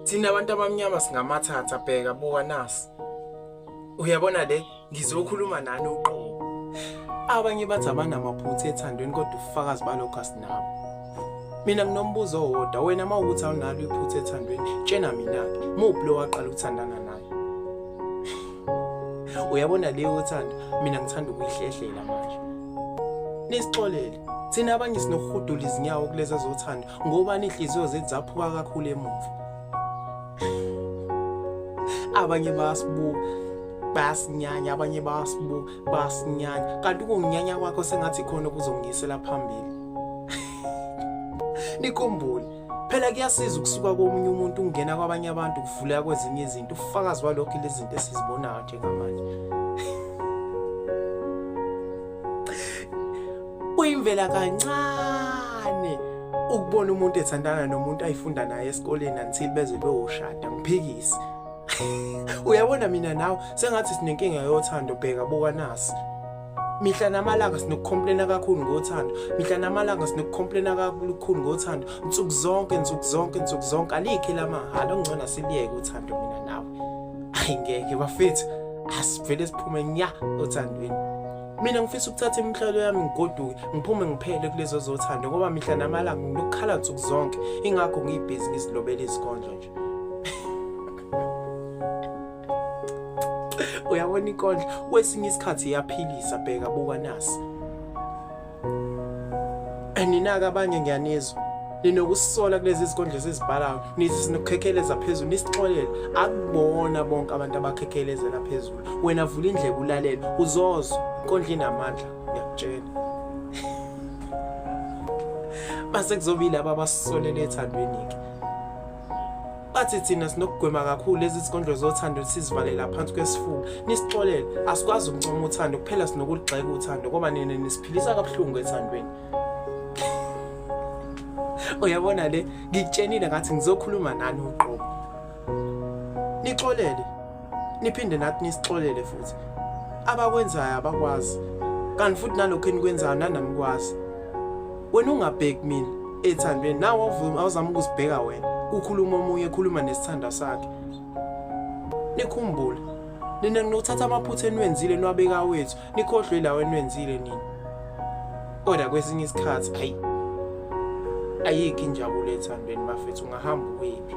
thina abantu abamnyama singamathatha bheka buka nasi uyabona le ngizokhuluma nani uqobo abanye bathi abanamaphutha ethandweni kodwa ufakazi balokho asinabo mina nginombuzo owodwa wena uma ukuthi awunalo iphutha ethandweni tshena mina-ke muphi lo waqala ukuthandana naye uyabona leyo uthando mina ngithanda ukuyihlehlela manje nisixolele thina abanye sinokuhudula izinyawo kulezi ezothanda ngoba nihliziyo zethu zaphuka kakhulu emuva abanye bayasibuka bayasinyanya abanye bayasibuka bayasinyanya kanti ukunginyanya kwakho sengathi khona okuzongisela phambili nikumbule Phela kuyasiza ukusuka komunye umuntu ungena kwabanye abantu kuvuleka kwezinye izinto ufakazi walokho lezi zinto esizibonayo njengamanje. Kuyimvela kancane ukubona umuntu ethandana nomuntu ayifunda naye esikoleni until beze beyoshada ngiphikisi. Uyabona mina nawe sengathi sinenkinga yothando bheka buka nasi. mihla namalanga sinokukhompulena kakhulu ngothando mihla namalanga sinokukhompulena kakhulu ngothando nsuku zonke nsuku zonke nsuku zonke alikhe lamahhala ongcono siliyeke uthando mina nawe ayi ngeke bafethu asivele siphume nya othandweni mina ngifisa ukuthatha imihlalo yami ngigoduke ngiphume ngiphele kulezo zothando ngoba mihla namalanga nginokukhala nsuku zonke ingakho ngiyibhizinisi lobela izikondlo nje uyabona inkondlo kwesinye isikhathi iyaphilisa bheka buka nasi aninaka abanye ngiyanizwa ninokusisola kulezi zinkondlo ezizibhalayo nithi sinokukhekheleza phezulu nisixolela akubona bonke abantu abakhekhelezela phezulu wena vula indlebe ulalele uzozwa inkondlo inamandla ngiyakutshela base kuzobile ababasisolele ethandweni-ke bathi thina sinokugwema kakhulu lezi zikondlo zothando sizivalela phansi kwesifuba nisixolele asikwazi ukuncoma uthando kuphela sinokuligxeka uthando ngoba nina nisiphilisa kabuhlungu ethandweni uyabona le ngikutshenile ngathi ngizokhuluma nani uqobo nixolele niphinde nathi nisixolele futhi abakwenzayo abakwazi kanti futhi nalokho enikwenzayo nanamkwazi wena ungabheki mina ethandweni nawe awuzama ukuzibheka wena kukhuluma omunye ekhuluma nesithanda sakhe nikhumbule nina nginokuthatha amaphutha eniwenzile niwabeka wethu nikhohlwe lawo eniwenzile nina kodwa kwesinye isikhathi ayi ayikho injabulo ethandweni bafethu ungahamba ukuyiphi